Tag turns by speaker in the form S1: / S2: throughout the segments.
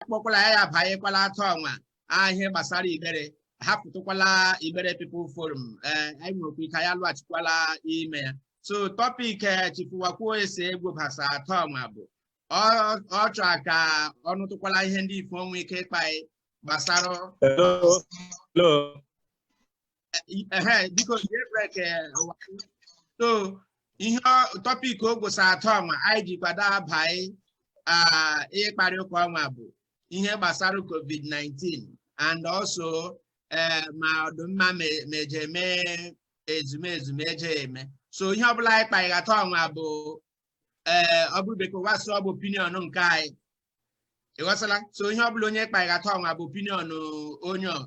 S1: akpọkwala ya ya abanyekwala atọ ọnwa ihe gbasara Igbere hapụtụkwala Igbere People Forum ee anyị nwekwa ike ya lụghachikwala ime ya so topic chifuwakwuo ese egwu basa atọ ọnwa bụ ọ chọrọ ka ọ nụtụkwala ihe ndị ife nwe ike ịkpa gbasara ehe biko jie break ụwa so ihe topic o gwụsa atọ ọnwa anyị ji kwado abaị ịkparị ụka ọnwa bụ ihe gbasara covid-19 and also ee ma ọ dụ mma meje eme ezumezu meje eme so ihe ọbụla anyị kpaghị atọ ọnwa bụ ee ọ bụrụ bekee ụwa sị ọ bụ opinion nke anyị ị ghọtala so ihe ọ bụla onye kpaghata ọnwa bụ opinion onye ọ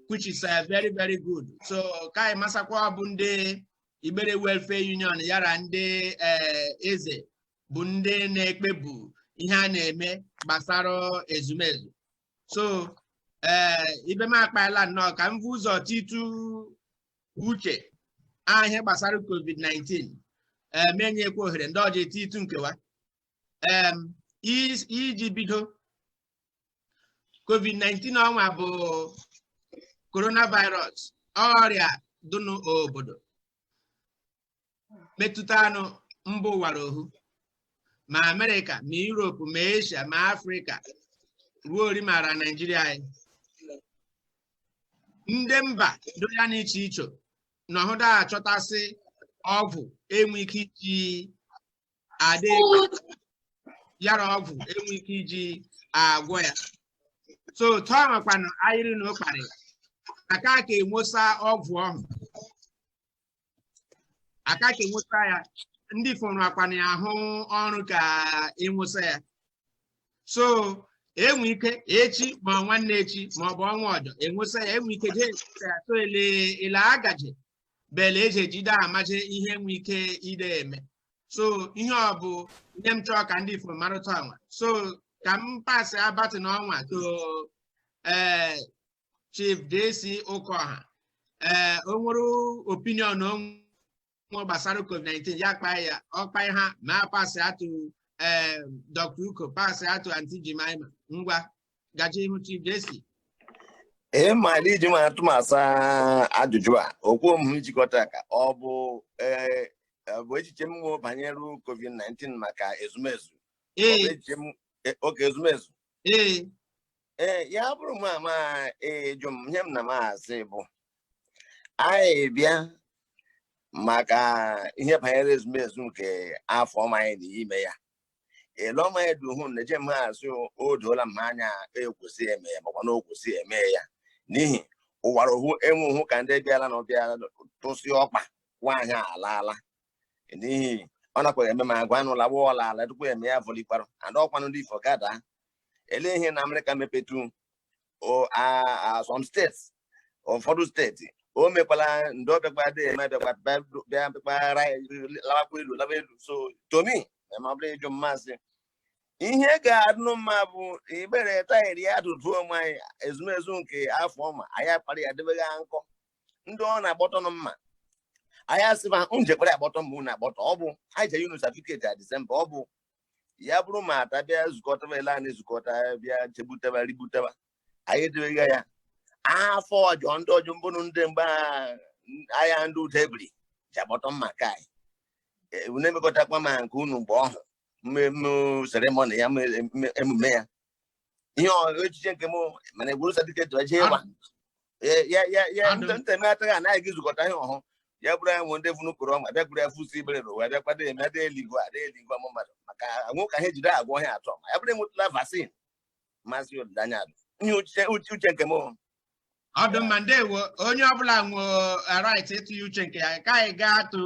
S1: which is uh, very very good so ka anyị masakwa ọ bụ ndị Igbere Welfare Union yara ndị eh, eze bụ ndị na-ekpebu ihe a na-eme gbasara ezumezu so ee eh, ibe m akpaela nnọọ ka m vu ụzọ titu uche ihe gbasara covid-19 m enyekwa ohere ndị ọjọ etitu nke wa em is- iji bido covid-19 ọnwa bụ coronavirus ọrịa dị n'obodo metụtanụ mba ụwa ra ohu ma amerịka ma europe ma asia ma afrịka ruo ori mara naijiria anyị ndị mba dị ya na iche iche na ọhụda achọtasị ọgwụ enwe ike iji adị yara ọgwụ enwe ike iji agwọ ya so tọọ makwanụ ayịrị na ụkparị aka ka enwesa ọgwụ ọhụ aka ka enwesa ya ndị fọrọ akwana ya ahụ ọrụ ka enwesa ya so enwe ike echi ma nwanne echi ma ọ bụ ọnwa ọjọ enwesa ya enwe ike jee enwesa ya so ele ele agaje bele eji ejide amaje ihe enwe ike ide eme so ihe ọ bụ ihe m chọọ ka ndị ife marụta ọnwa so ka m pasịa baton ọnwa to ee Chief JC Okoha ee o nwere opinion o nwe gbasara COVID-19 ya kpaa ya ọ kpaha ma pasịa to ee Dr. Uko pasịa to Aunty Jemima ngwa gaje ihu Chief JC
S2: ee ma na iji ma atụma asa ajụjụ a okwu mụ jikọta ka ọ bụ ee ọ bụ echiche m nwere banyere COVID-19 maka ezumezu oke ezumezu ee ee ya bụrụ mụ ma ajụ m ihe m na m asị bụ anyị bịa maka ihe banyere ezumezu nke afọ ọ ma anyị na ime ya ele ọma ya duhu na eje m ha asị o doola m anya ekwesị eme ya makwa na o kwesị eme ya n'ihi ụkwara ọhụ enwehụ ka ndị bịara na ọbịa tụsị ọkpa nwaanyị alaala n'ihi ọ nakwaghị eme ma agwa anụla gba ọla ala dịkwa eme ya vọlikwara and ọkwanụ ndị ifo gada ele ihe na amerịka mepetu some states ụfọdụ steeti o mekwala ndị ọbịakwa dị eme abịakwa bịa bịakwara lawakwa elu lawa elu so to me ma ọ bụrụ ị jụ m m asị ihe ga-adụ mma bụ Igbere tayịrị ya dụduo onwe anyị ezumezu nke afọ ọ ma anyị akpara ya debeghị nkọ ndị ọ na-agbọtọ nụ mma anyị asịba njekwere agbọtọ mma unu agbọtọ ọ bụ anyị nyere unu satifiketi na disemba ọ bụ ya bụrụ ma ata bịa zukọtaba ele anyị zukọta bịa chegbutaba rigbutaba anyị edebeghị ya afọ ọzọ ndị ọzọ mbụnụ ndị mgbe ahịa ndị ụda ebiri ji agbọtọ mma ka anyị e, unu emekọtakwa ma nke unu mgbe ọhụ mmemme seremoni ya emume ya ihe echiche nke m mana egwuru satifiketi eje ịgba ya nteme ataghị anaghị gị zukọta ihe ọhụụ ya bụrụ ya nwe ndị vunu koro ọma bịa gburu ya fusi Igbere n'ụwa bịa kwado eme adị eluigwe adị eluigwe ụmụ mmadụ maka anwụ ka ha ejide agwọ ọrịa atọ ma ya bụrụ enwetụla vaccine maazị olileanya dị ihe uche nke m ọ
S1: dụ mma ndewo onye ọbụla nwe right ịtụnye uche nke ya ka anyị gaa to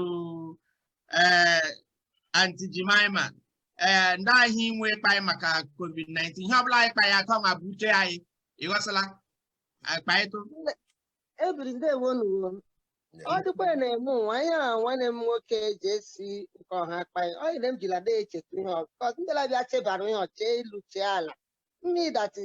S1: ee anti Jemima ee ndị ahụ inwe ịkpa anyị maka covid-19 ihe ọbụla anyị kpa ya atọ ma bụ uche anyị ịghọsịla
S3: akpaịtụ ebiri ndewo nuwo ọ dịkwa ya na-eme ụwa ihe a nwanne m nwoke ji esi nke ọha akpa ya ọ yere m jila na-echeta ihe ọzọ ndị labịa chebara ihe ọ chee elu chee ala meaning that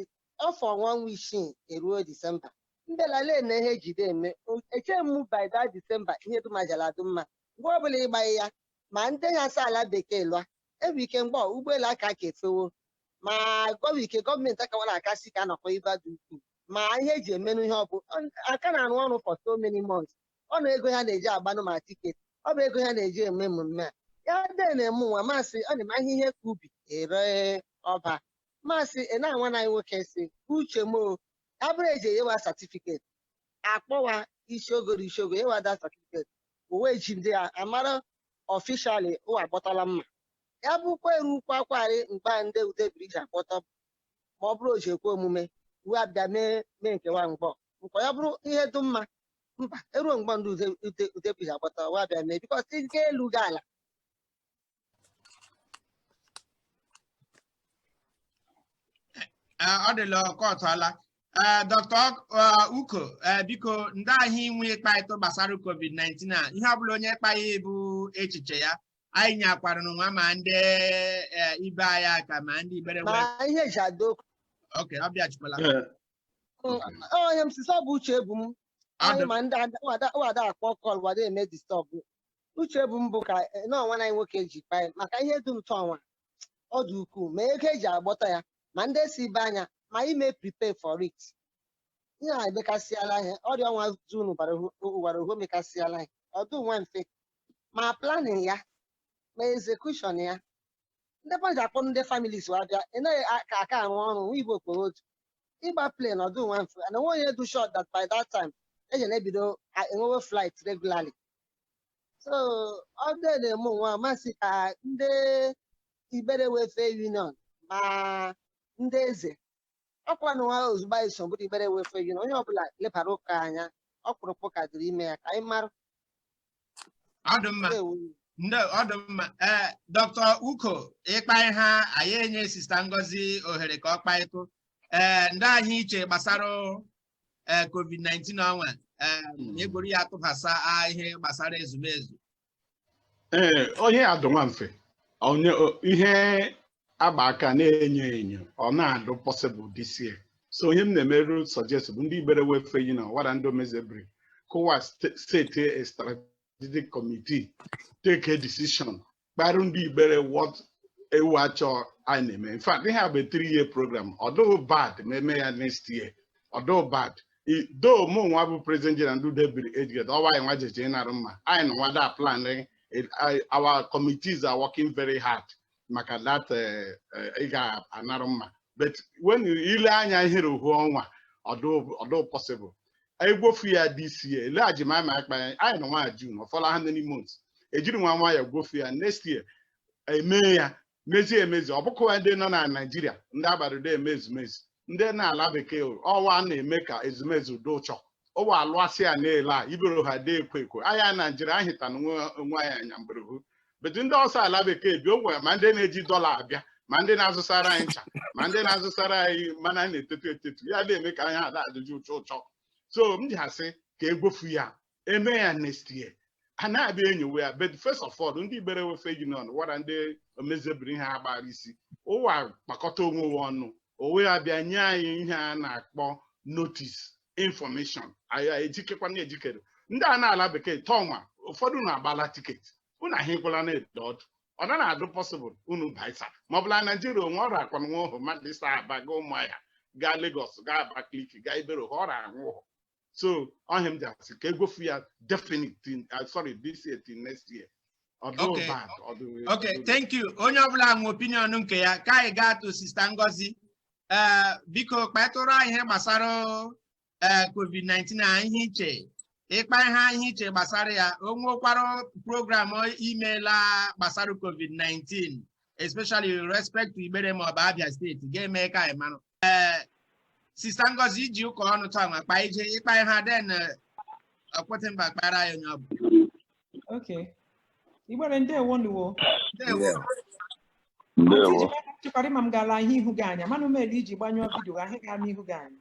S3: ọ fọ ọnwa ọnwa isii eruo disemba mbelale na ihe jide eme O- eche mụ by that disemba ihe dum ajala adụ mma mgbe ọbụla ịgbaghị ya ma ndị ya sa ala bekee lụa enwe ike mgbe ọ, ụgbọelu aka ka efewo ma gọwa ike gọọmenti akawara akasi ka anọkọ ibe dị ukwuu ma ihe eji emenụ ihe ọ bụ aka na-arụ ọrụ for so many months ọ na ego ha na-eji agbanụ ma tiketi ọ bụ ego ha na-eji eme emume a ya dee na-eme nwa masị ọ na-eme ahịa ihe ka ubi ere ọba masị ị na-anwa na anyị nwoke si uche m o ya bụrụ eji enyewa satifiketi akpọwa isi ogo isi ogo enyewa ha satifiketi uwe ji ndị a amara ọfishali ụwa agbọtọla mma ya bụkwa eru ukwu akwarị mgbe ndị ude ebiri ji agbọtọ mma ọ bụrụ o ji ekwe omume uwe abịa mee mee nkewa mgbọ nkwa ya bụrụ ihe dị mma mba eruo mgbe ndị ude ude Udebiri ji agbọtọ wa bịa mee because ike elu gị
S1: ala Eh, ọ dịla ọkọtụọla ee dr uko eh, biko ndịa ihe i nwe ịkpaịtụ gbasara covid-19 a ihe ọbụla onye kpagha bụ echiche ya anyị nyekwara n'ụwa ma ndị eh, ibe anyị aka ma ndị Igbere ma wee ihe eji ada
S3: okwu oke ọ
S1: bịachikwala
S3: ihe m sisi ọ bụ uche ebu m anyị ma ndị ada- wada- wada akpọ call wada eme disturb uche ebu m bụ ka eh, na ọnwa anyị nwoke ji kpa anyị maka ihe dị ụtọ ọnwa ọ dị ukwuu ma ego eji agbọtọ ya ma ndị si ibe anya ma ime prepare for it ihe a emekasịala ihe ọrịa ọnwa zuru ụwa ohu emekasịala ihe ọdụ nwa mfe ma planning ya ma execution ya ndị mmadụ ji akpọ ndị families wa bịa ị naghị a- ka aka arụ ọrụ nwa igbo kporo otu ịgba plane ọdụ nwa mfe and enwe onye dụ sure that by that time eji na-ebido a- enwewe flight regularly so ọ dị na-eme nwa m asị ka ndị Igbere Welfare Union ma ndị eze ọkwa na nwa ozugbo anyị so bụrụ Igbere Welfare Union onye ọbụla lebara ụka anya ọkpụrụkpụ ụka dịrị ime ya ka anyị mara ọ dị
S1: mma Ndewo. ndị ọ dị mma ee dọkịta uko ịkpa ihe anyị enye sista ngozi ohere ka ọ kpaịtụ ee ndịa ihe i che gbasara ee covid-19 ọnwa ee Mm. egworu ya tụbasa a- ihe gbasara ezumezu ee
S4: onye adụ nwa mfe onye o- ihe agba aka na-enyo enyo ọ na-adụ possible this year so ihe m na-emerụ suggest bụ ndị igbere Welfare Union wara ndị omezebiri ka wa set a strategic committee take a decision kparụ ndị igbere whatever a chọ anyị na-eme in fact ihe a bụ three year program ọdụụ bad ma eme ya next year ọdụụ bad though mụ nwa bụ president general ndị Udebiri ejigede ọwa anyị nwa jeje ịnarụ mma anyị na nwada plan our committees are working very hard maka that eh, eh, ị ga-anara mma but when you- ile anya ihere ohu ọnwa ọdụ possible egwofu ya this year ele ajimama akpa anyị anyị nọ ọnwa June ọ fọla how many months ejiri nwa nwa ya gwofu ya next year emee ya mezie emezi ọ bụkwa ndị nọ na naijiria ndị agbado eme ezumezu ndị nọ ala bekee ọ wa na-eme ka ezumezu dị ụchọ ụwa alụasị ya na-ele a ibero ha dị ekwo ekwo anyị naijiria ahịta na onwe anyị anya mberhu but ndị ọsọ ala bekee bi ogwe ma ndị na-eji dọla abịa ma ndị na-azụsara anyị ncha ma ndị na-azụsara anyị mmanụ a na-etetu etetu ya na-eme ka anyị ada ajụjụ ụchọ ụchọ so m ji asị ka egwofu ya eme ya next year a na-abịa enyowe ya but first of all ndị Igbere Welfare Union wara ndị omezebiri ihe agbara isi ụwa kpakọta onwe wo ọnụ owe ya bịa nye anyị ihe a na-akpọ notice information anyị ejikekwa na ejikere ndị a nọ ala bekee tọnwa ụfọdụ unu agbala tiketi unu ahụkwala na-ede ọdụ ọ na na-adụ possible unu baisa ma ọ bụla naijiria onwe ọ rakwa nwa ahụ mmadụ isi Aba gaa Ụmụahịa gaa Lagos gaa Abakaliki gaa Igbere ọ ra nwa ahụ so ọ ihe a m ji asị ka egwofu ya definite uh, sorry this year till next year
S1: okay thank you onye ọbụla nwe opinion nke ya ka anyị gaa to Sista Ngozi ee biko kpatụrụ anyị ihe gbasara ee covid-19 a ihe i che ịkpa ihe anyị iche gbasara ya o nwekwara program i meela gbasara covid-19 especially with respect to Igbere ma ọ bụ Abia steeti ga-eme ka anyị mara ee Sista Ngozi iji ụka ọnụ taa ma kpa ije ịkpa ihe aden okwute mba kpara ya onye ọ bụ
S5: okay Igbere ndewo nụ o
S2: ndewo ndewo chekwara ma m
S5: ga-ele ihu gị anya mana umeli i ji gbanyụọ vidio ahụ gara n'ihu gị anya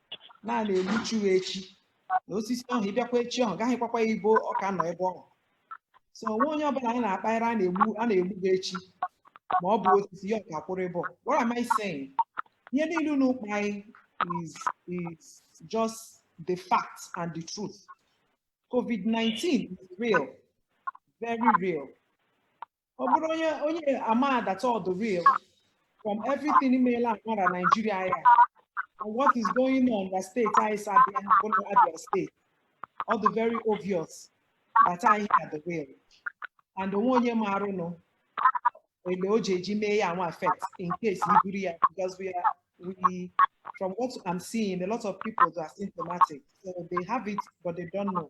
S5: na a na-egbuchi ya echi na osisi ahụ ị bịakwa echi ahụ ga-ahụkwakwa ya ebe ọ ka nọ ebe ọhụ so o nwe onye ọbụla anyị na-akpagharị a na-egbu gị echi ma ọ bụ osisi ya ọ ka kwụrụ ebe ọ what am I saying ihe niile unu kpa anyị is is just the fact and the truth COVID-19 is real very real ọ bụrụ onye ama that ọ dụ real from everything imeela amara Nigeria ya and what is going on na steeti anyị si abịa bụ na Abia steeti ọ dị very obvious that ihe a dụ real and o nwe onye maara nụ ele o ji eji mee ya nwa affect in case i buru ya because we are we from what I'm seeing a lot of people are asymptomatic so they have it but they don't know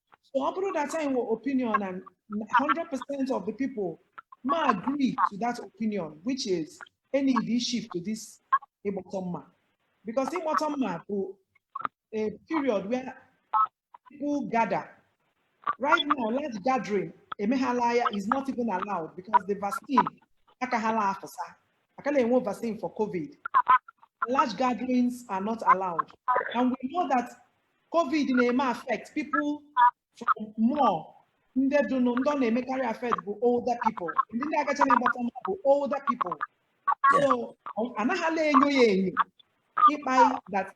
S5: So ọ bụrụ that anyị nwere opinion and 100% of the people me agree to that opinion which is anyị do shift to this ịgbọtọ mma because ịgbọtọ mma bụ a period where people gather right now large gathering emeghala ya is not even allowed because the vaccine akaghala afụsa aka na-enwe vaccine for covid large gatherings are not allowed and we know that covid na-eme affect people from more ndị dụnụ ndị ọ na-emekarị affect bụ older people ndị ndị agacha na-agbọtọ mma bụ older people so anaghịla enyo ya enyo ịkpa that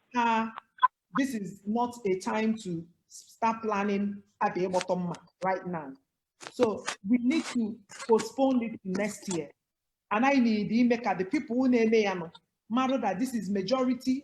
S5: this is not a time to start planning about ịgbọtọ mma right now so we need to postpone it to next year and anyị need ime ka the people who na-eme ya nụ mara that this is majority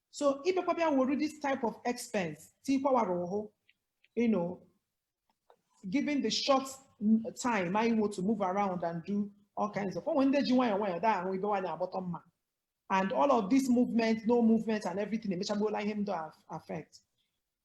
S5: so ị bịakwa bịa were this type of expense tikwawara ụhụ you know given the short time anyị nwe to move around and do all kinds of o nwe ndị ji nwayọọ nwayọọ daa ahụ ibe nwaanyị agbọtọ mma and all of this movement no movement and everything emechagbuola ihe m do affect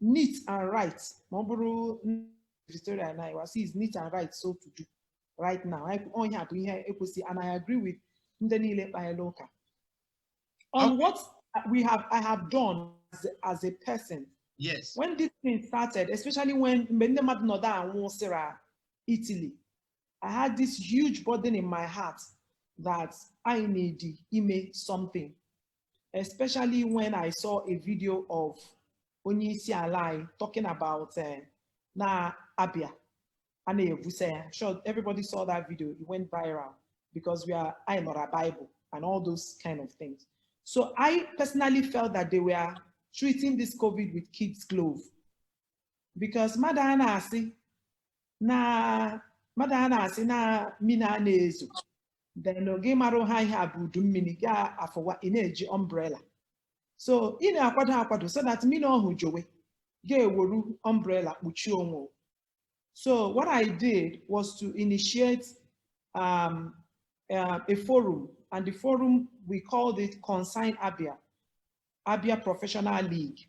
S5: neat and right ma ọ bụrụ Victoria na iwa is neat and right so to do right now ihe a bụ ihe e kwesị and I agree with ndị niile kpayela ụka on what we have I have done as, as a person yes when
S1: this
S5: thing started especially when mgbe ndị mmadụ nọdụ anwụsị ra Italy I had this huge burden in my heart that I need ime something especially when I saw a video of onye isi ala anyị talking about uh, na Abia a na-evusa ya I'm sure everybody saw that video it went viral because we are anyị nọ ra Bible and all those kind of things so I personally felt that they were treating this COVID with kids glove because mmadụ a na-asị na mmadụ a na-asị na mini a na-ezo then gị mara ha ihe a bụ udu mini gị afụwa ị na-eji umbrella so ị na-akwado akwado so that mini ọhụ jowe gị eweru umbrella kpuchie onwe o. so what i did was to initiate um, uh, a forum and the forum we called it Concerned Abia Abia Professional League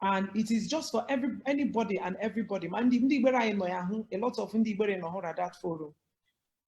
S5: and it is just for every anybody and everybody ma ndị ndị Igbere anyị nọ ya hụ a lot of ndị Igbere nọ hụ na that forum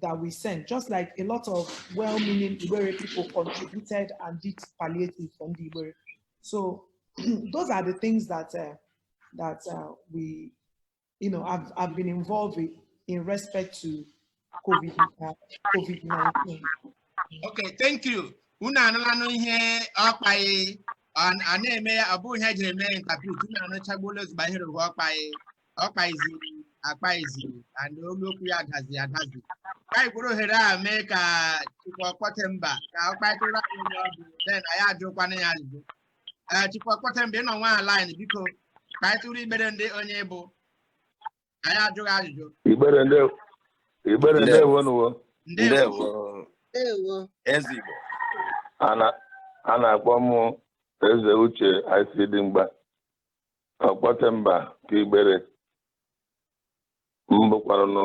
S5: that we sent, just like a lot of well-meaning Igbere people contributed and did palliative for ndị Igbere. So those are the things that uh, that uh, we, you know, have, have been involved in, in respect to COVID, uh, COVID-19.
S1: Okay, thank you. Unu anụlanụ ihe ọ kpaị a na-eme ya ọ bụghị ihe jiri mee interpret unu anụchagbuola ozugbo ihe rụrụ ọ kpaị ọ kpaiziri akpaizi and olu okwu ya dazi adazi ka anyị kwuru ohere a mee ka Chukwu Ọkpọte Mba ka ọ kpaịtụrụ anyị onye ọ bụ then anyị ajụkwana ya ajụjụ ee Chukwu Ọkpọte Mba ị nọ nwa line biko kpaịtụrụ Igbere ndị onye ị bụ anyị ajụ gị ajụjụ
S6: Igbere ndewo nu wo.
S1: Ndewo.
S2: Eze Igbo a na-
S6: a na-akpọ m Eze Uche ICD Mgba Ọkpọtemba ka Igbere m bụkwaranụ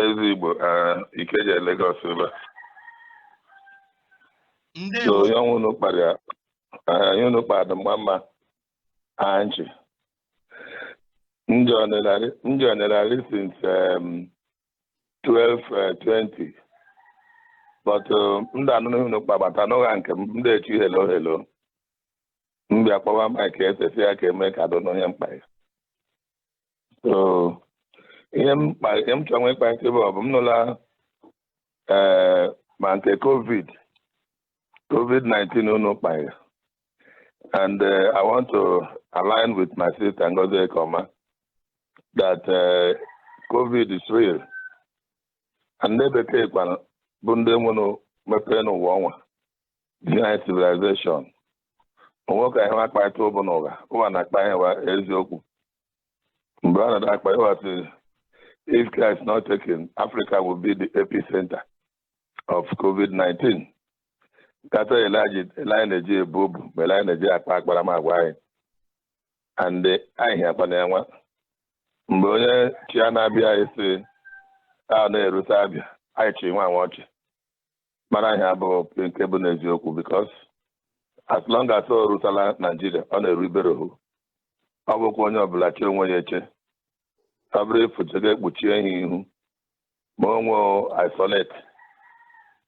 S6: ezi igbo ah, Ikeja Lagos ebe a. so ihe ọnwa unu kpara ya ah, ihe unu kpara dị mma mma anchi njọ nịlarị since um, 12:20 but um, m da anụrụ ihe unu kpagbata n'ụgha nke m da echi hello hello m bịa kpọwa Mike efesi ya ka eme ka dụ nụ ihe m kpa ya so ihe m kpa- ihe m chọrọ ịkpa isi bụ ọ bụ m nụla ee ma nke covid covid-19 unu kpara and uh, I want to align with my sister Ngozi Ekoma that uh, COVID is real. And ndị bekee kwa bụ ndị nwenụ mmepe n'ụwa ọnwa behind civilization o nwe ka ihe wa kpata ụbụ n'ụgha ụwa na-akpa ihe wa eziokwu mgbe a na akpa ihe wa sị if care is not taken Africa will be the epicenter of COVID-19 kata ele anyị na-eji ebu obu ma ele anyị na-eji akpa akparamagwa anyị and anyị akpana ya nwa mgbe ọ nọ China abịa anyị sị anaa erute Abia anyị chị nwa nwa ọchị mara ihe abụ nke bụ n'eziokwu because as long as o rutala Naijiria ọ na-eru Igbere ohu ọ bụkwa onye ọbụla chi onwe ya eche ọ bụrụ ifuche ga-ekpuchie ihe ihu ma onwe isolate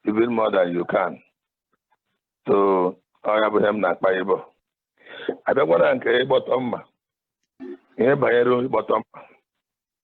S6: even more than you can so ọ ya bụ ihe m na-akpa ịbọ abịakwana nke ịgbọtọ mma ihe banyere ịgbọtọ mma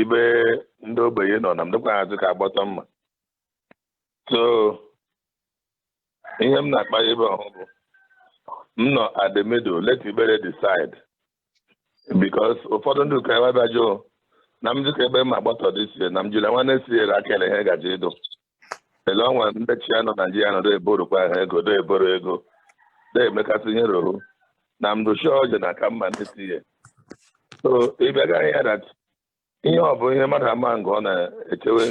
S6: ibe ndị ogbenye nọ na m dịkwa azụ ka agbọtọ mma so ihe m na-akpa ebe ọhụ bụ m nọ at the middle let Igbere decide because ụfọdụ ndị ụka ebe bịa jụụ na m dịka ebe m agbọtọ this year na m jiri nwa next year ka ele ihe ga-eji ịdụ ele ọnwa ndị chị anyị na Naijiria nọ na-eborokwa ha ego na-eboro ego na-emekasị ihe rụrụ na mdochi ọjọ na aka mma ndị tinye so ịbịaga ya that ihe ọ bụ ihe mmadụ ama ngụ ọ na-echewe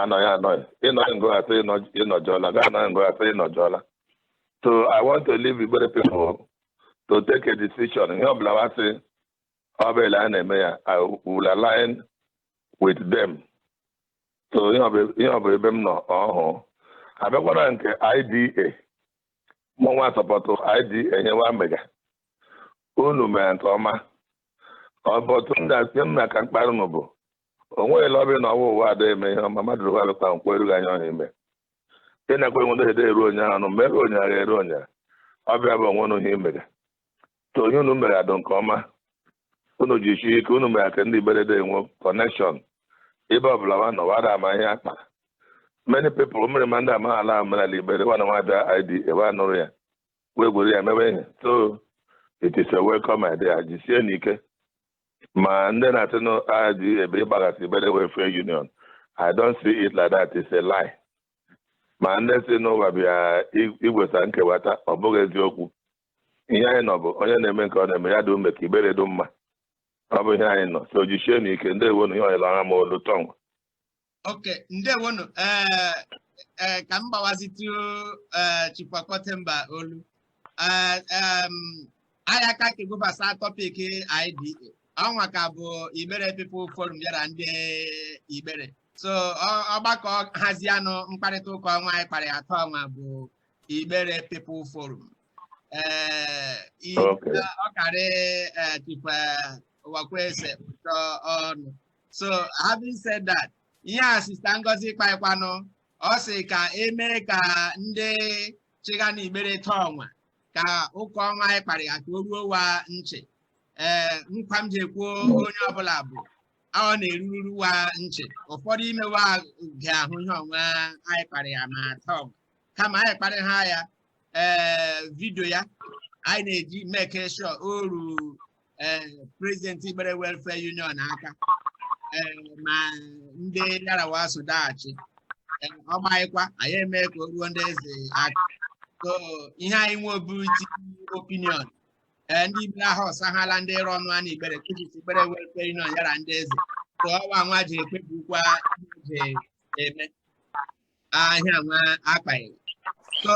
S6: anọghị anọghị ịnọghị ngụ asị ịnọjọla ga anọghị ngụ asị ịnọjọla so i want to leave Igbere people to take a decision ihe ọbụla wa sị ọ bụ ele a na-eme ya i will align with them so ihe ọ bụ ebe m nọ ọhụụ abịakwara nke IDA mụnwa support IDA ihe wa mega unu mere nke ọma ọbọtụ ndị asị m na ka mkparị nụ bụ o nweghị lọbị na ọwa ụwa ada eme ihe ọma mmadụ rụwa alụkwa nkwa erughị onye ọhụ ime ị na-ekwe nwede ede eru onye ahụ mere onye a eru onye ọ bịa bụ o nwerụ ihe i mega so ihe unu mere adụ nke ọma unu jishie ike unu mere ka ndị Igbere de enwe connection ebe ọbụla wa nọ wa da ama ihe akpa many people mere ma ndị amaghị ala omenala Igbere wa na nwa bịa IDA bịa nụrụ ya wee gwere ya mewe ihe so it is a welcome idea jisie n'ike ma ndị na-asị na IDA bịa ịgbaghasị Igbere Welfare Union i don't see it like that it's a lie ma ndị sị na wa bịa igwesa nkewata ọ bụghị eziokwu ihe anyị nọ bụ onye na-eme nke ọ na-eme ya dị ime ka Igbere dị mma ọ bụ ihe anyị nọ so jishie n'ike ndewonu ihe ọnyere ọha m olu taa ọnwa
S1: okay ndewonu ee ee ka m gbawazitụ ee Chief Ọkọtemba olu ee em, anyị aka ka egwebasa topic IDA ọnwa ka bụ Igbere People Forum yara ndị Igbere so ọ- ọgbakọ hazianụ mkparịta ụka ọnwa anyị kparị taa ọnwa bụ Igbere People Forum ee i- Okay. ọ karị eh, Chief eh, Uwakwe ese ụtọ ọnụ so having said that ihe a sista Ngozi kpaịkwanụ ọ sị ka emee ka ndị chịga na Igbere taa ọnwa ka ụka ọnwa anyị kparị ya ka o ruo wa nchị ee nkwa m ji ekwe onye ọbụla bụ ọ na-eruru wa nchị ụfọdụ ime wa ga-ahụ ihe ọnwa anyị kparị ya ma taa ọnwa kama anyị kparị ha ya ee vidio ya anyị na-eji make sure o ruru ee president Igbere Welfare Union aka ee ma ndị yara wa so da achị Ee, ọ gbaghịkwa anyị eme ka o ruo ndị eze aka so ihe anyị nwe ọ bụ iti opinion ee ndị Igbere ahọsahala ndị ịrụ ọnụ a na Igbere which is Igbere Welfare Union yara ndị eze so ọ wa nwa ji ekpebikwa ji na-eme ihe ọnwa a kparị so